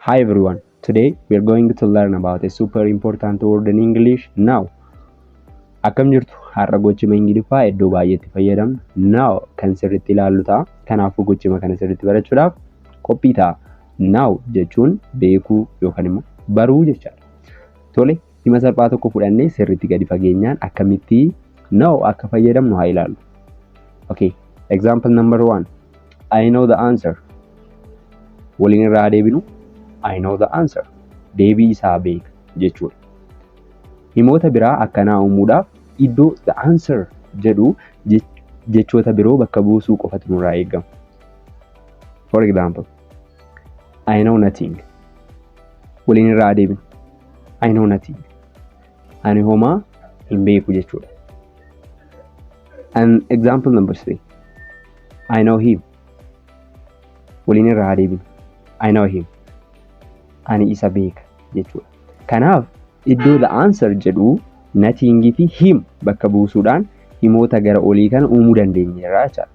Hi everyone, today we are going to learn about a super important word in English now. Akkam jirtu har'a gochima Ingiliffaa iddoo baay'eetti fayyadamnu now kan sirriitti ilaallu ta'a. Kanaafuu gochima kana sirriitti barachuudhaaf qophii ta'a. Now jechuun beekuu yookaan immoo baruu jechaadha. Tole Hima salphaa tokko fudhannee sirriitti gadi fageenyaan akkamitti know akka fayyadamnu haa ilaallu. Okay, example number one. I know the answer. Waliin irraa deebinu. I know the answer. Deebii isaa beeka jechuudha. Himoota biraa akkanaa uumuudhaaf iddoo the answer jedhu jechoota biroo bakka buusuu qofatu nurraa eegama. For example. I know nothing. Waliin irraa adeemin. I know nothing. Ani homaa hin beeku jechuudha. And example number three. I know him. Waliin irraa adeemin. I know him. Ani isa beeka jechuudha. Kanaaf iddoo the answer jedhu nothing fi him bakka buusuudhaan himoota gara olii kana uumuu dandeenyeerra jechaadha.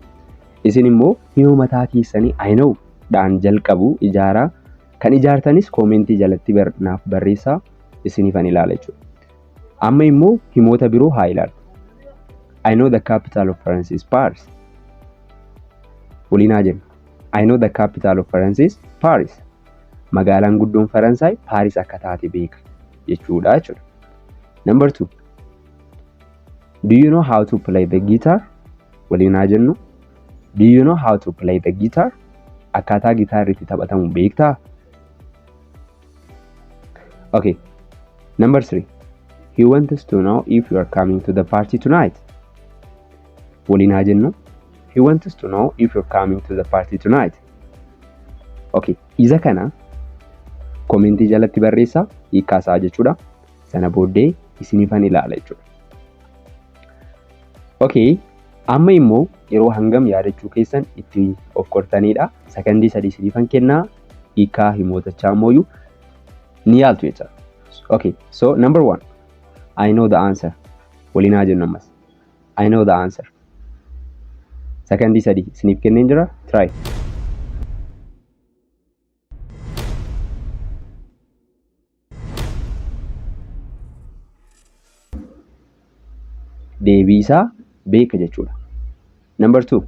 Isin immoo hima mataa keessanii I know dhaan jalqabu ijaaraa. Kan ijaartanis koomentii jalatti bar, naaf barreessaa isinifan ilaala jechuudha. Amma immoo himoota biroo haa ilaallu. I know the capital of France is Paris. Waliin haa jennu. I know the capital of France is Paris. Magaalaan guddoon Faransaay Paaris akka taate beeka jechuudha jechuudha. Number two. Do you know how to play the guitar? waliin haa jennu. Do you know how to play the guitar? Akkaataa gitaarri itti taphatamu beektaa? Okay. Number three. He wants to know if you are coming to the party tonight. Waliin haa jennu. He wants to know if you're coming to the party tonight. Okay. Isa kana komentii jalatti barreessaa hiikkaasaa jechuudha. Sana booddee isiniifan ilaala jechuudha. Ok amma immoo yeroo hangam yaadachuu keessan itti of qortaniidha sakandii sadii siniifan kennaa hiikaa himootachaa immooyu ni yaaltu jecha ok so number one I know the answer waliin haa jennu ammas I know the answer sakandii sadii siniif kenneen jira try deebii isaa beeka jechuudha. Number two,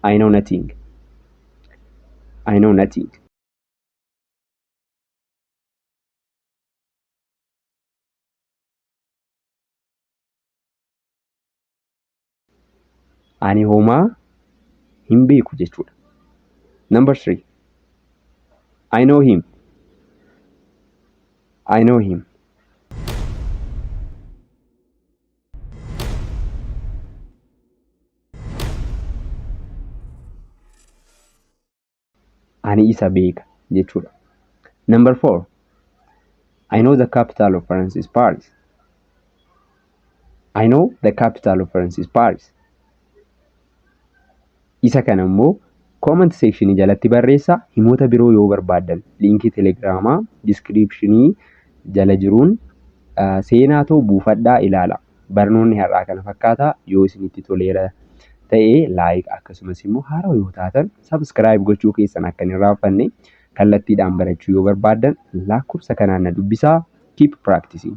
I know nothing. I know nothing. ani homaa hin beeku jechuudha. Number three, I know him. I know him. ani isa beeka jechuudha. Number four, I know the capital of France is Paris. I know the capital of France is Paris. Isa kana immoo comment section jalatti barreessa himoota biroo yoo barbaaddan liinkii telegiraamaa diskiriipshinii jala jiruun seenaa too buufadhaa ilaala. Barnoonni har'aa kana fakkaata. Yoo isinitti toleera ta'e like akkasumas immoo haarawa yoo taatan subscribe gochuu keessan akka hin irraanfanne kallattiidhaan barachuu yoo barbaaddan lakkoofsa kanaan na dubbisaa. Keep practicing!